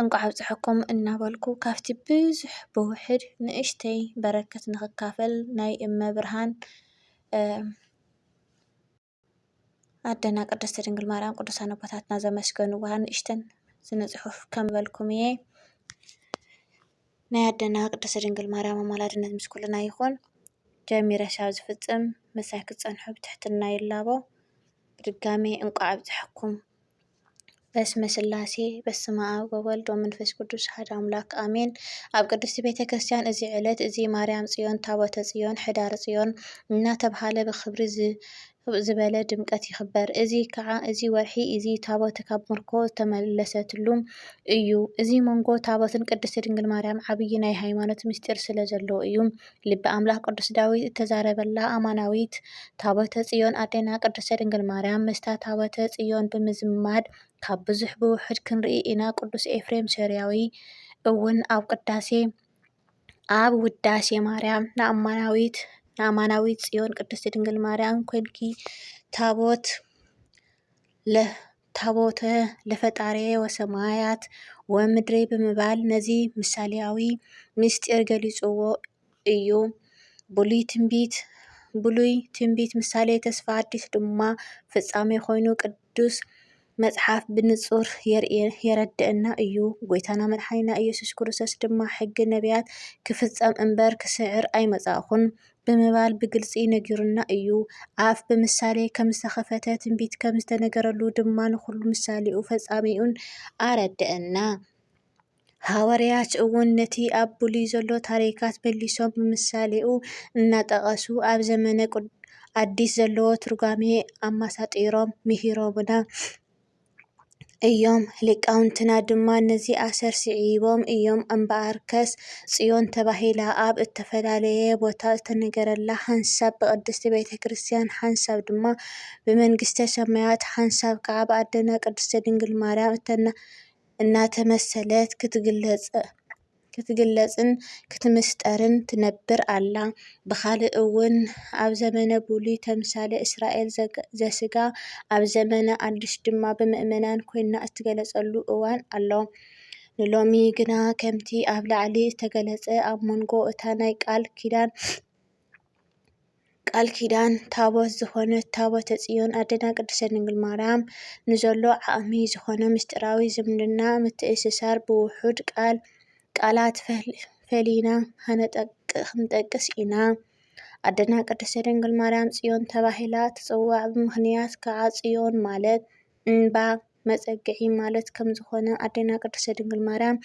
እንቋዕ ኣብፀሐኩም እናበልኩ ካብቲ ብዙሕ ብውሕድ ንእሽተይ በረከት ንክካፈል ናይ እመ ብርሃን ኣደና ቅድስት ድንግል ማርያም ቅዱሳን ኣቦታትና ዘመስገንዋ ንእሽተን ስነ ፅሑፍ ከምበልኩም እየ ናይ ኣደና ቅድስት ድንግል ማርያም ኣማላድነት ምስ ኩልና ይኹን ጀሚረ ሻብ ዝፍፅም ምሳይ ክትፀንሑ ብትሕትና ይላቦ ብድጋሜ እንቋዕ ኣብፀሐኩም በስመ ስላሴ በስመ ኣብ ወወልድ ወመንፈስ ቅዱስ ሓደ ኣምላክ ኣሜን። ኣብ ቅድስቲ ቤተ ክርስቲያን እዚ ዕለት እዚ ማርያም ጽዮን ታቦተ ጽዮን ሕዳር ጽዮን እናተብሃለ ብክብሪ ዝበለ ድምቀት ይኽበር። እዚ ከዓ እዚ ወርሒ እዚ ታቦት ካብ ምርኮ ዝተመለሰትሉ እዩ። እዚ መንጎ ታቦትን ቅድስቲ ድንግል ማርያም ዓብዪ ናይ ሃይማኖት ምስጢር ስለ ዘለዎ እዩ። ልበ ኣምላኽ ቅዱስ ዳዊት እተዛረበላ ኣማናዊት ታቦተ ጽዮን ኣዴና ቅድስተ ድንግል ማርያም ምስታ ታቦተ ጽዮን ብምዝማድ ካብ ብዙሕ ብውሑድ ክንርኢ ኢና። ቅዱስ ኤፍሬም ሶርያዊ እውን ኣብ ቅዳሴ ኣብ ውዳሴ ማርያም ንኣማናዊት ንኣማናዊት ጽዮን ቅድስቲ ድንግል ማርያም ኮንኪ ታቦት ታቦተ ለፈጣርየ ወሰማያት ወምድሪ ብምባል ነዚ ምሳሌኣዊ ምስጢር ገሊጽዎ እዩ። ብሉይ ትንቢት ብሉይ ትንቢት ምሳሌ ተስፋ ኣዲስ ድማ ፍጻሜ ኮይኑ ቅዱስ መጽሓፍ ብንጹር የረድእና እዩ። ጎይታና መድሓኒና ኢየሱስ ክርስቶስ ድማ ሕጊ ነቢያት ክፍጸም እምበር ክስዕር ኣይመጻእኹን ብምባል ብግልጺ ነጊሩና እዩ። ኣፍ ብምሳሌ ከም ዝተኸፈተ፣ ትንቢት ከም ዝተነገረሉ ድማ ንኹሉ ምሳሌኡን ፈጻሜኡን ኣረድእና። ሃዋርያት እውን ነቲ ኣብ ብሉይ ዘሎ ታሪካት መሊሶም ብምሳሌኡ እናጠቐሱ ኣብ ዘመነ ኣዲስ ዘለዎ ትርጓሜ ኣማሳጢሮም ምሂሮምና። እዮም። ሊቃውንትና ድማ ነዚ ኣሰር ስዒቦም እዮም እምበኣርከስ ጽዮን ተባሂላ ኣብ እተፈላለየ ቦታ እተነገረላ፣ ሓንሳብ ብቅድስቲ ቤተ ክርስቲያን፣ ሓንሳብ ድማ ብመንግስተ ሰማያት፣ ሓንሳብ ከኣ ብኣደና ቅድስቲ ድንግል ማርያም እናተመሰለት ክትግለጽ። ክትግለጽን ክትምስጠርን ትነብር ኣላ። ብኻልእ እውን ኣብ ዘመነ ብሉይ ተምሳሌ እስራኤል ዘሥጋ ኣብ ዘመነ ኣዲስ ድማ ብምእመናን ኮይና እትገለጸሉ እዋን ኣሎ። ንሎሚ ግና ከምቲ ኣብ ላዕሊ ዝተገለጸ ኣብ መንጎ እታ ናይ ቃል ኪዳን ቃል ኪዳን ታቦት ዝኾነት ታቦተ ጽዮን ኣደና ቅድስተ ድንግል ማርያም ንዘሎ ዓቕሚ ዝኾነ ምስጢራዊ ዝምድና ምትእስሳር ብውሑድ ቃል ቃላት ፈሊና ክንጠቅስ ኢና። ኣደና ቅድስተ ድንግል ማርያም ጽዮን ተባሂላ ትጽዋዕ ብምኽንያት ከዓ ጽዮን ማለት እምባ መጸግዒ ማለት ከም ዝኾነ ኣደና ቅድስተ ድንግል ማርያም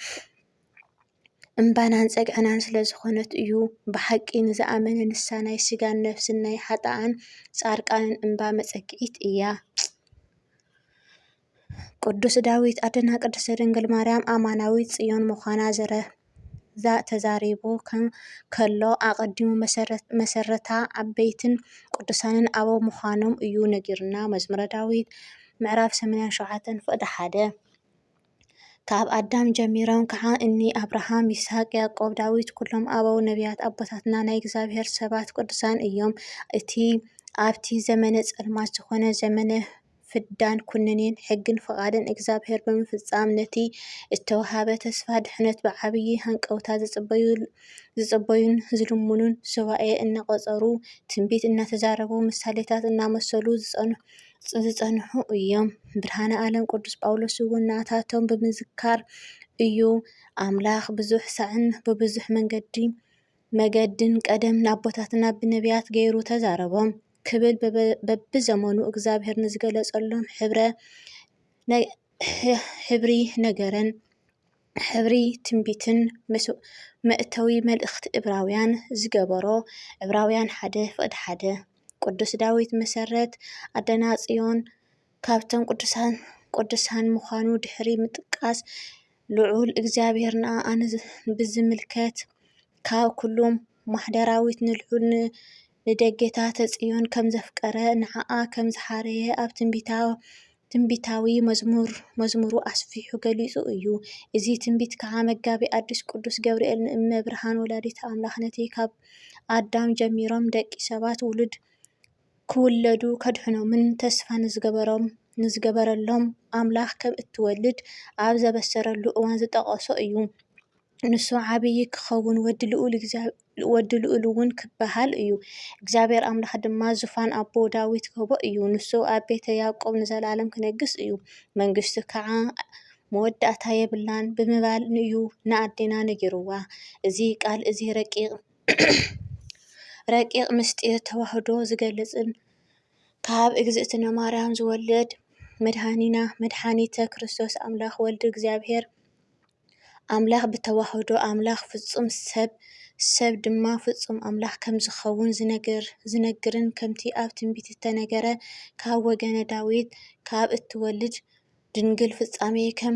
እምባናን ጸግዕናን ስለ ዝኾነት እዩ። ብሓቂ ንዝኣመነ ንሳ ናይ ስጋን ነፍስን ናይ ሓጥኣን ጻርቃንን እምባ መጸግዒት እያ። ቅዱስ ዳዊት ኣደና ቅድስት ድንግል ማርያም ኣማናዊት ጽዮን ምዃና ዘረ ተዛሪቡ ከሎ ኣቐዲሙ መሰረታ ዓበይትን ቅዱሳንን ኣበው ምዃኖም እዩ ነጊርና። መዝሙረ ዳዊት ምዕራፍ 87 ፍቕዲ ሓደ ካብ ኣዳም ጀሚሮም ከኣ እኒ ኣብርሃም፣ ይስሃቅ፣ ያዕቆብ፣ ዳዊት ኩሎም ኣበው ነብያት ኣቦታትና ናይ እግዚኣብሔር ሰባት ቅዱሳን እዮም። እቲ ኣብቲ ዘመነ ጸልማት ዝኾነ ዘመነ ፍዳን ኩነኔን ሕግን ፍቓድን እግዚኣብሔር ብምፍጻም ነቲ እተወሃበ ተስፋ ድሕነት ብዓብዪ ሃንቀውታ ዝጽበዩን ዝልምኑን ሱባኤ እናቖጸሩ ትንቢት እናተዛረቡ ምሳሌታት እናመሰሉ ዝጸንሑ ዝጸንሑ እዮም። ብርሃነ ዓለም ቅዱስ ጳውሎስ እውን ንኣታቶም ብምዝካር እዩ ኣምላኽ ብዙሕ ሳዕን ብብዙሕ መንገዲ መገድን ቀደም ንኣቦታትና ብነቢያት ገይሩ ተዛረቦም ክብል በብዘመኑ እግዚኣብሔር ንዝገለጸሎም ሕብረ ሕብሪ ነገረን። ሕብሪ ትንቢትን ምስ መእተዊ መልእኽቲ እብራውያን ዝገበሮ ዕብራውያን ሓደ ፍቅዲ ሓደ ቅዱስ ዳዊት መሰረት ኣደናጽዮን ካብቶም ቅዱሳን ቅዱሳን ምዃኑ ድሕሪ ምጥቃስ ልዑል እግዚኣብሔር ንኣኣ ብዝምልከት ካብ ኩሉ ማሕደራዊት ንልዑል ንደጌታተ ጽዮን ከም ዘፍቀረ፣ ንዓኣ ከም ዝሓረየ ኣብ ትንቢታዊ መዝሙሩ ኣስፊሑ ገሊጹ እዩ። እዚ ትንቢት ከኣ መጋቢ ኣዲስ ቅዱስ ገብርኤል ንእመ ብርሃን ወላዲተ ኣምላኽ ነቲ ካብ ኣዳም ጀሚሮም ደቂ ሰባት ውሉድ ክውለዱ ከድሕኖምን ተስፋ ንዝገበረሎም ኣምላኽ ከም እትወልድ ኣብ ዘበሰረሉ እዋን ዝጠቐሶ እዩ። ንሱ ዓብዪ ኪኸውን፣ ወዲ ልኡልውን ኪበሃል እዩ። እግዚኣብሄር ኣምላኽ ድማ ዙፋን ኣቦኡ ዳዊት ኪህቦ እዩ፣ ንሱ ኣብ ቤተ ያእቆብ ንዘለኣለም ኪነግስ እዩ፣ መንግስቱ ኸዓ መወዳእታ የብላን ብምባል እዩ ንኣዴና ነጊርዋ። እዚ ቓል እዚ ረቂቕ ምስጢር ተዋህዶ ዚገልጽን ካብ እግዝእትነ ማርያም ዚውለድ መድኃኒና መድኃኒተ ክርስቶስ ኣምላኽ ወልድ እግዚኣብሄር፣ ኣምላኽ ብተዋህዶ ኣምላኽ ፍጹም ሰብ፣ ሰብ ድማ ፍጹም ኣምላኽ ከም ዝኸውን ዝነግርን ከምቲ ኣብ ትንቢት እተነገረ ካብ ወገነ ዳዊት ካብ እትወልድ ድንግል ፍጻሜ ከም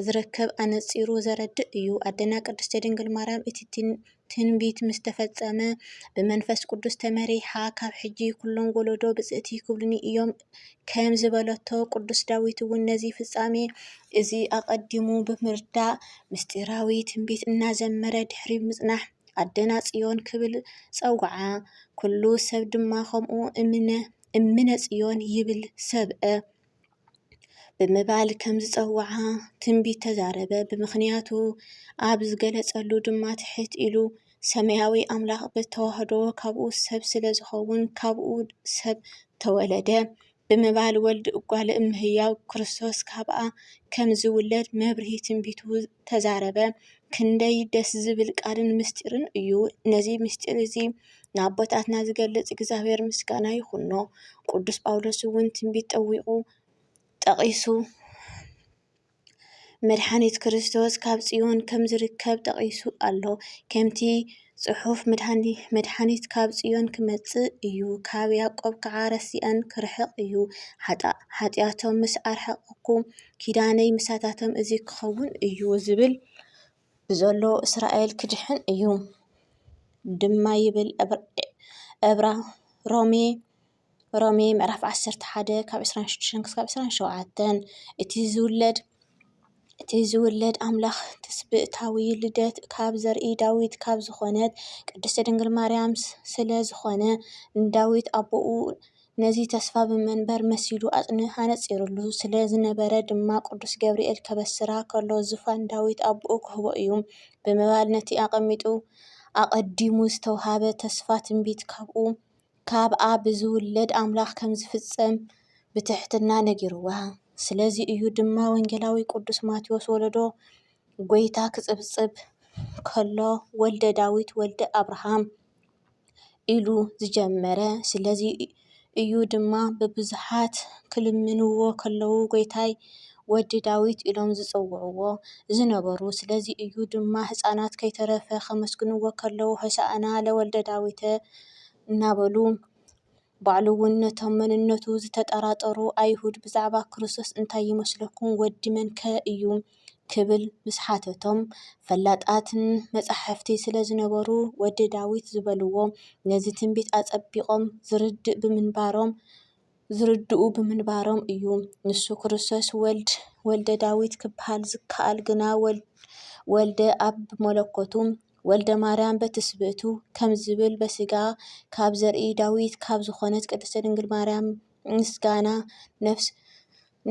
ዝርከብ ኣነጺሩ ዘረድእ እዩ። ኣደና ቅድስቲ ድንግል ማርያም እቲ ትንቢት ምስ ተፈጸመ፣ ብመንፈስ ቅዱስ ተመሪሓ፣ ካብ ሕጂ ኵሎም ወለዶ ብጽእቲ ኪብሉኒ እዮም ከም ዝበለቶ፣ ቅዱስ ዳዊት እውን ነዚ ፍጻሜ፣ እዚ ኣቐዲሙ ብምርዳእ፣ ምስጢራዊ ትንቢት እናዘመረ ድሕሪ ምጽናሕ፣ ኣደና ጽዮን ኪብል ጸውዓ። ኵሉ ሰብ ድማ ከምኡ እምነ፣ እምነ ጽዮን ይብል ሰብአ። ብምባል ከም ዝጸውዓ ትንቢት ተዛረበ። ብምኽንያቱ ኣብ ዝገለጸሉ ድማ ትሕት ኢሉ ሰማያዊ ኣምላኽ ብተዋህዶ ካብኡ ሰብ ስለ ዝኸውን ካብኡ ሰብ ተወለደ ብምባል ወልድ እጓለ እምህያው ክርስቶስ ካብኣ ከም ዝውለድ መብርሂ ትንቢቱ ተዛረበ። ክንደይ ደስ ዝብል ቃልን ምስጢርን እዩ! ነዚ ምስጢር እዚ ንኣቦታትና ዝገልጽ እግዚኣብሔር ምስጋና ይኹኖ። ቅዱስ ጳውሎስ እውን ትንቢት ጠዊቑ ጠቒሱ መድሓኒት ክርስቶስ ካብ ጽዮን ከም ዝርከብ ጠቒሱ ኣሎ። ከምቲ ጽሑፍ መድሓኒት ካብ ጽዮን ክመጽእ እዩ፣ ካብ ያዕቆብ ከዓ ረሲኣን ክርሕቕ እዩ። ሓጢኣቶም ምስ ኣርሓቕኩ ኪዳነይ ምሳታቶም እዚ ክኸውን እዩ ዝብል። ብዘሎ እስራኤል ክድሕን እዩ ድማ ይብል ዕብራ ሮሜ ሮሜ ምዕራፍ ዓሰርተ ሓደ ካብ ዕስራን ሽዱሽተን ክሳብ ዕስራን ሸውዓተን እቲ ዝውለድ እቲ ዝውለድ ኣምላኽ ትስብእታዊ ልደት ካብ ዘርኢ ዳዊት ካብ ዝኾነት ቅድስቲ ድንግል ማርያም ስለ ዝኾነ ንዳዊት ኣቦኡ ነዚ ተስፋ ብመንበር መሲሉ ኣጽኒዑ ኣነጺሩሉ ስለ ዝነበረ ድማ ቅዱስ ገብርኤል ከበስራ ከሎ ዙፋን ዳዊት ኣቦኡ ክህቦ እዩ ብምባል ነቲ ኣቐሚጡ ኣቐዲሙ ዝተውሃበ ተስፋ ትንቢት ካብኡ ካብኣ ብዝውለድ ኣምላኽ ከም ዝፍጸም ብትሕትና ነጊርዋ። ስለዚ እዩ ድማ ወንጌላዊ ቅዱስ ማቴዎስ ወለዶ ጐይታ ክጽብጽብ ከሎ ወልደ ዳዊት ወልደ ኣብርሃም ኢሉ ዝጀመረ ስለዚ እዩ ድማ ብብዙሓት ክልምንዎ ከለዉ ጎይታይ ወዲ ዳዊት ኢሎም ዝጽውዕዎ ዝነበሩ ስለዚ እዩ ድማ ህጻናት ከይተረፈ ከመስግንዎ ከለዉ ሆሳእና ለወልደዳዊተ እናበሉ ባዕሉ እውን ነቶም መንነቱ ዝተጠራጠሩ ኣይሁድ ብዛዕባ ክርስቶስ እንታይ ይመስለኩም? ወዲ መን ከ እዩ? ክብል ምስ ሓተቶም፣ ፈላጣት መጻሕፍቲ ስለ ዝነበሩ ወዲ ዳዊት ዝበልዎ ነዚ ትንቢት ኣጸቢቖም ዝርድእ ብምንባሮም ዝርድኡ ብምንባሮም እዩ። ንሱ ክርስቶስ ወልድ ወልደ ዳዊት ክበሃል ዝከኣል ግና ወልደ ኣብ ብመለኮቱ፣ ወልደማርያም በትስብእቱ ከምዚ ዝብል በስጋ ካብ ዘርኢ ዳዊት ካብ ዝኾነት ቅድስት ድንግል ማርያም ምስጋና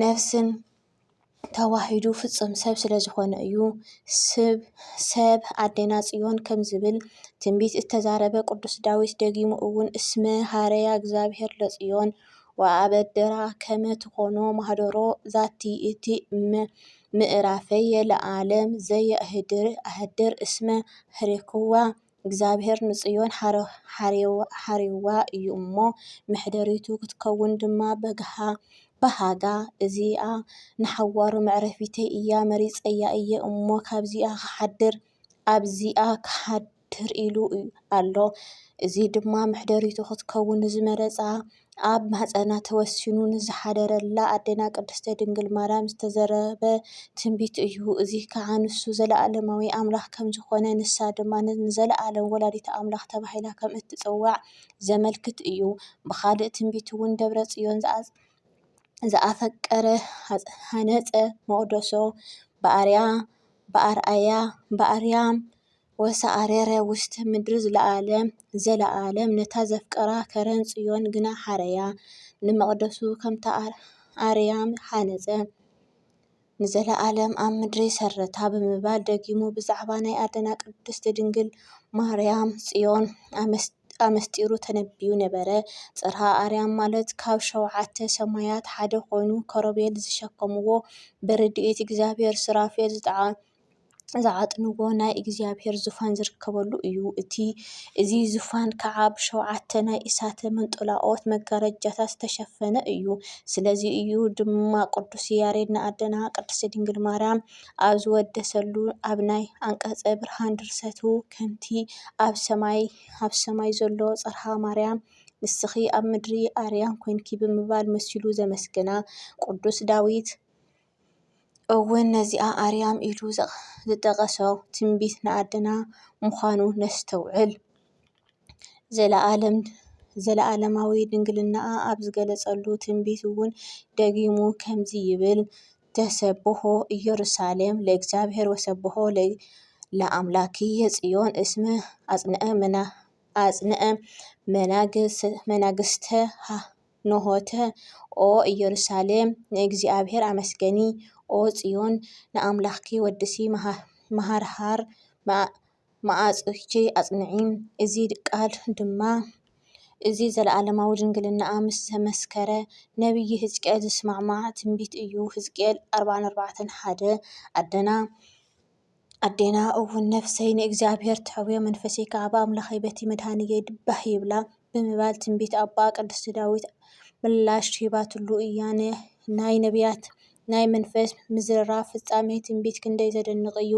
ነፍስን ተዋሂዱ ፍጹም ሰብ ስለዝኾነ እዩ። ሰብ ኣዴና ጽዮን ከምዚ ዝብል ትንቢት እተዛረበ ቅዱስ ዳዊት ደጊሙ እውን እስመ ኀረያ እግዚኣብሔር ለጽዮን ወኣበድራ ከመ ትኮኖ ማኅደሮ ዛቲ እቲ እመ ምእራፈየ ለዓለም ዘየእህድር ኣህድር እስመ ኀሬኩዋ፣ እግዚኣብሔር ንጽዮን ኀሬዋ እዩ እሞ፣ መኅደሪቱ ክትከውን ድማ በሃጋ፣ እዚኣ ንሓዋሩ መዕረፊተይ እያ፣ መሪጸያ እየ እሞ፣ ካብዚኣ ኽሓድር ኣብዚኣ ኽሓድር። ትር ኢሉ ኣሎ። እዚ ድማ መሕደሪቱ ክትከውን ንዝመረጻ ኣብ ማህጸና ተወሲኑ ንዝሓደረላ ኣዴና ቅድስተ ድንግል ማርያም ዝተዘረበ ትንቢት እዩ። እዚ ከኣ ንሱ ዘለኣለማዊ ኣምላኽ ከም ዝኾነ ንሳ ድማ ንዘለኣለም ወላዲተ ኣምላኽ ተባሂላ ከም እትጽዋዕ ዘመልክት እዩ። ብኻልእ ትንቢት እውን ደብረ ጽዮን ዝኣፈቀረ ሃነጸ መቕደሶ ብኣርያ ብኣርኣያ ብኣርያም ወሰኣረረ ውስተ ምድሪ ዘለዓለም ዘለዓለም ነታ ዘፍቀራ ከረን ጽዮን ግና ሓረያ። ንመቕደሱ ከምታ ኣርያም ሃነጸ፣ ንዘለዓለም ኣብ ምድሪ ሰረታ ብምባል ደጊሙ ብዛዕባ ናይ ኣደና ቅድስት ድንግል ማርያም ጽዮን ኣመስጢሩ ተነብዩ ነበረ። ጽርሃ ኣርያም ማለት ካብ ሸውዓተ ሰማያት ሓደ ኮይኑ ከሮቤል ዝሸከምዎ ብርድኢት እግዚኣብሔር ሱራፌል ዝተዓጠቐ ዝዓጥንዎ ናይ እግዚኣብሔር ዙፋን ዝርከበሉ እዩ። እቲ እዚ ዙፋን ከዓ ብሸውዓተ ናይ እሳተ መንጦላኦት መጋረጃታት ዝተሸፈነ እዩ። ስለዚ እዩ ድማ ቅዱስ ያሬድ ንኣደና ቅድስት ድንግል ማርያም ኣብ ዝወደሰሉ ኣብ ናይ ኣንቀጸ ብርሃን ድርሰቱ ከምቲ ኣብ ሰማይ ኣብ ሰማይ ዘሎ ጽርሃ ማርያም ንስኺ ኣብ ምድሪ ኣርያም ኮይንኪ ብምባል መሲሉ ዘመስገና። ቅዱስ ዳዊት እውን ነዚኣ ኣርያም ኢሉ ዝጠቐሶ ትንቢት ንኣድና ምዃኑ ነስተውዕል። ዘለኣለማዊ ድንግልናኣ ኣብ ዝገለጸሉ ትንቢት እውን ደጊሙ ከምዚ ይብል፣ ተሰብሖ ኢየሩሳሌም ለእግዚኣብሔር ወሰብሖ ለኣምላክየ ጽዮን እስመ ኣጽንዐ መናግስተ ሃህስበ። ኖሆተ ኦ ኢየሩሳሌም ንእግዚኣብሔር ኣመስገኒ ኦ ጽዮን ንኣምላኽኪ ወድሲ መሃርሃር መዓጹኺ ኣጽንዒ እዚ ቃል ድማ እዚ ዘለዓለማዊ ድንግልናኣ ምስ ዘመስከረ ነብዪ ህዝቅኤል ዝስማዕማዕ ትንቢት እዩ ህዝቅኤል ኣርባዓን ኣርባዕተን ሓደ ኣደና ኣዴና እውን ነፍሰይ ንእግዚኣብሔር ትሐውዮ መንፈሰይ ከዓ ብኣምላኸይ በቲ መድኃኒየይ ባህ ይብላ ብምባል ትንቢት ኣባ ቅዱስ ዳዊት ምላሽ ሂባትሉ እያ። ናይ ነቢያት ናይ መንፈስ ምዝርራብ ፍጻሜ ትንቢት ክንደይ ዘደንቕ እዩ!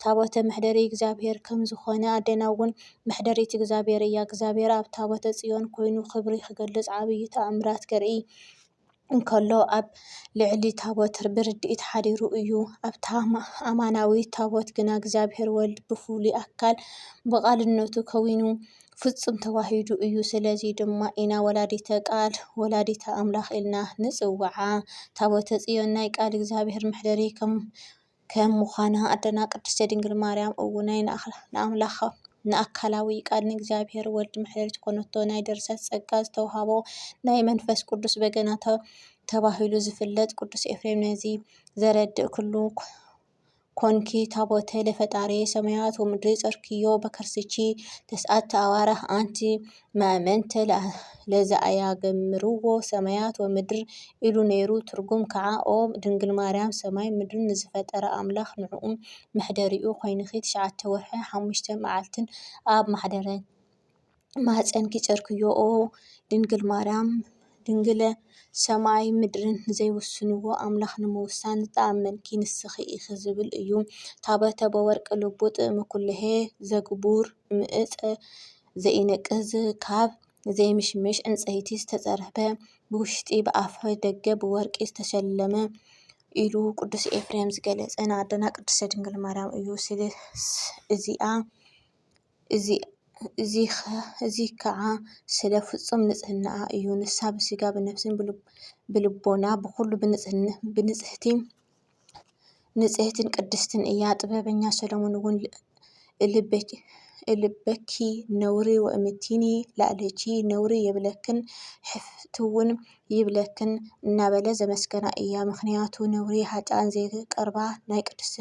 ታቦተ መሕደሪ እግዚኣብሔር ከም ዝኾነ ኣዴና እውን መሕደሪት እግዚኣብሔር እያ። እግዚኣብሔር ኣብ ታቦተ ጽዮን ኮይኑ ክብሪ ክገልጽ ዓብይ ተኣምራት ከርኢ እንከሎ ኣብ ልዕሊ ታቦት ብርድኢት ሓዲሩ እዩ። ኣብታ ኣማናዊት ታቦት ግና እግዚኣብሔር ወልድ ብፍሉይ ኣካል ብቃልነቱ ከዊኑ ፍጹም ተዋሂዱ እዩ። ስለዚ ድማ ኢና ወላዲተ ቃል፣ ወላዲተ ኣምላኽ ኢልና ንጽውዓ። ታቦተ ጽዮን ናይ ቃል እግዚኣብሔር መሕደሪ ከም ከም ምዃና ኣደና ቅድስተ ድንግል ማርያም እውን ናይ ንኣምላኽ ንኣካላዊ ቃል ንእግዚኣብሔር ወልድ መሕደሪት ኮነቶ። ናይ ድርሰት ጸጋ ዝተውሃቦ ናይ መንፈስ ቅዱስ በገና ተባሂሉ ዝፍለጥ ቅዱስ ኤፍሬም ነዚ ዘረድእ ክሉ ኮንኪ ታቦተ ለፈጣርየ ሰማያት ወምድሪ ጸርክዮ በከርስቺ ተስዓተ ኣዋርሕ ኣንቲ መእመንተ ለዘኣያገምርዎ ሰማያት ወምድር ኢሉ ነይሩ ትርጉም ከዓ ኦ ድንግል ማርያም ሰማይን ምድርን ንዝፈጠረ ኣምላኽ ንዕኡ መሕደሪኡ ኮይንኺ ትሽዓተ ወርሒ ሓሙሽተ መዓልትን ኣብ ማሕደረ ማህፀንኪ ፀርክዮ ኦ ድንግል ማርያም ድንግለ ሰማይን ምድርን ንዘይውስንዎ ኣምላኽ ንምውሳን ዝተኣመንኪ ንስኺ ኢኺ ዝብል እዩ ታበተ በወርቅ ልቡ ጥእሚ ኩሉሔ ዘግቡር እምእፀ ዘይነቅዝ ካብ ዘይምሽምሽ ዕንጸይቲ ዝተጸርበ ብውሽጢ ብኣፈ ደገ ብወርቂ ዝተሸለመ ኢሉ ቅዱስ ኤፍሬም ዝገለጸ ንኣደና ቅድስተ ድንግል ማርያም እዩ። እዚኣ እዚ ከዓ ስለ ፍጹም ንጽህናኣ እዩ። ንሳ ብስጋ ብነፍስን ብልቦና ብኹሉ ብንጽህቲ ንጽህትን ቅድስትን እያ። ጥበበኛ ሰሎሞን እውን እልበኪ ነውሪ ወእምቲኒ ላዕሌኪ ነውሪ የብለክን ሕፍትውን ይብለክን እናበለ ዘመስገና እያ። ምክንያቱ ነውሪ ሃጣን ዘይቀርባ ናይ ቅዱስ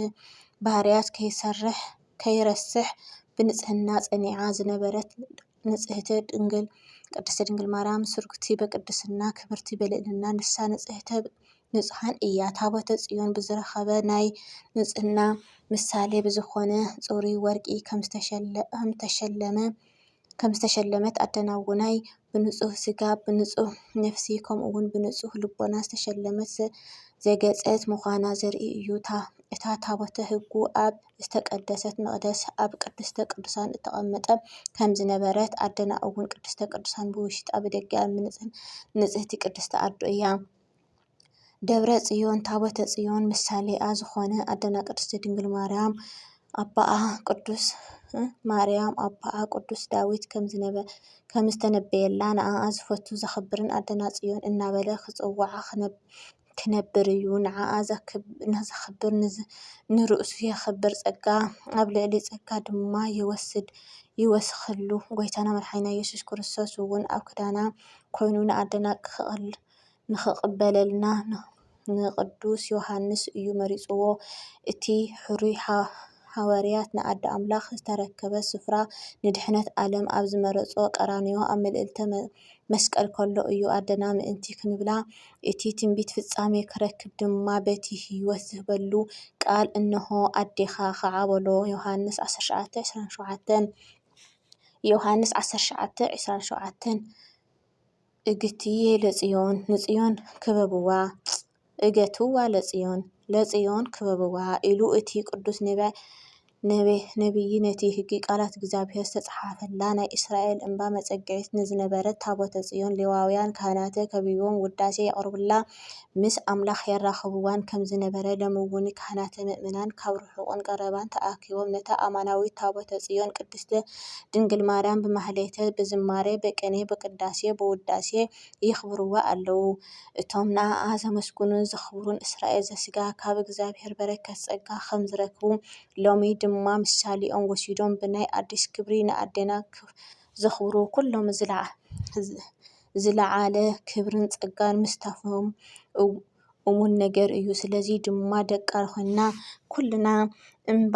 ባህርያት ከይሰርሕ ከይረስሕ ብንጽህና ጸኒዓ ዝነበረት ንጽህቲ ድንግል ቅድስቲ ድንግል ማርያም ስርጉቲ በቅድስና ክብርቲ በልእልና ንሳ ንጽህተ ንጹሓን እያ ታቦተ ጽዮን ብዝረኸበ ናይ ንጽህና ምሳሌ ብዝኾነ ፁሪ ወርቂ ምተሸለመ ከም ዝተሸለመት ኣደናውናይ ብንጹህ ስጋ ብንጹህ ነፍሲ ከምኡውን ብንጹህ ልቦና ዝተሸለመት ዘገጸት ምዃና ዘርኢ እዩታ እታ ታቦተ ህጉ ኣብ ዝተቀደሰት መቅደስ ኣብ ቅድስተ ቅዱሳን እተቀመጠ ከም ዝነበረት ኣደና እውን ቅድስተ ቅዱሳን ብውሽጣ ብደጊኣ ምንጽን ንጽህቲ ቅድስቲ ኣዶ እያ። ደብረ ጽዮን ታቦተ ጽዮን ምሳሌኣ ዝኾነ ኣደና ቅድስቲ ድንግል ማርያም ኣባኣ ቅዱስ ማርያም ኣባኣ ቅዱስ ዳዊት ከም ዝተነበየላ ንኣኣ ዝፈቱ ዘኽብርን ኣደና ጽዮን እናበለ ክጽውዓ ክነብር እዩ ንዓኣ ዘኽብር ንርእሱ የኽብር ጸጋ ኣብ ልዕሊ ጸጋ ድማ ይወስድ ይወስኽሉ ጎይታና መድሓኒና ኢየሱስ ክርስቶስ እውን ኣብ ክዳና ኮይኑ ንኣደና ንኽቕበለልና ንቅዱስ ዮሃንስ እዩ መሪጽዎ እቲ ሕሩይ ሃዋርያት ንኣደ ኣምላኽ ዝተረከበ ስፍራ ንድሕነት ዓለም ኣብ ዝመረጾ ቀራንዮ ኣብ ምልእልተ መስቀል ከሎ እዩ ኣደና ምእንቲ ክንብላ እቲ ትንቢት ፍጻሜ ክረክብ ድማ በቲ ህይወት ዝህበሉ ቃል እንሆ ኣዴኻ ኸዓ በሎ ዮሃንስ ዓሰርተ ሸውዓተ ዕስራን ሸውዓተን ዮሃንስ ዓሰርተ ሸውዓተ ዕስራን ሸውዓተን እግትዬ ለጽዮን ንጽዮን ክበብዋ እገትዋ ለጽዮን፣ ለጽዮን ክበብዋ፣ ኢሉ እቲ ቅዱስ ነብዪ ነቲ ህጊ ቃላት እግዚኣብሔር ዝተጽሓፈላ ናይ እስራኤል እምባ መጸግዒት ንዝነበረት ታቦተ ጽዮን ሌዋውያን ካህናተ ከቢቦም ውዳሴ የቕርቡላ ምስ ኣምላኽ የራኽብዋን ከም ዝነበረ ለምውኒ ካህናተ ምእመናን ካብ ርሑቕን ቀረባን ተኣኪቦም ነታ ኣማናዊት ታቦተ ጽዮን ቅድስተ ድንግል ማርያም ብማህሌተ ብዝማሬ ብቅኔ ብቅዳሴ ብውዳሴ የኽብርዋ ኣለዉ። እቶም ንኣኣ ዘመስግኑን ዘኽብሩን እስራኤል ዘስጋ ካብ እግዚኣብሔር በረከት ጸጋ ከም ዝረክቡ ሎሚ ድማ ምሳሌኦም ወሲዶም ብናይ ኣዲስ ክብሪ ንኣዴና ዘኽብሩ ኩሎም ዝለዓለ ክብርን ጸጋን ምስታፎም እሙን ነገር እዩ። ስለዚ ድማ ደቃ ኮይንና ኩልና እባ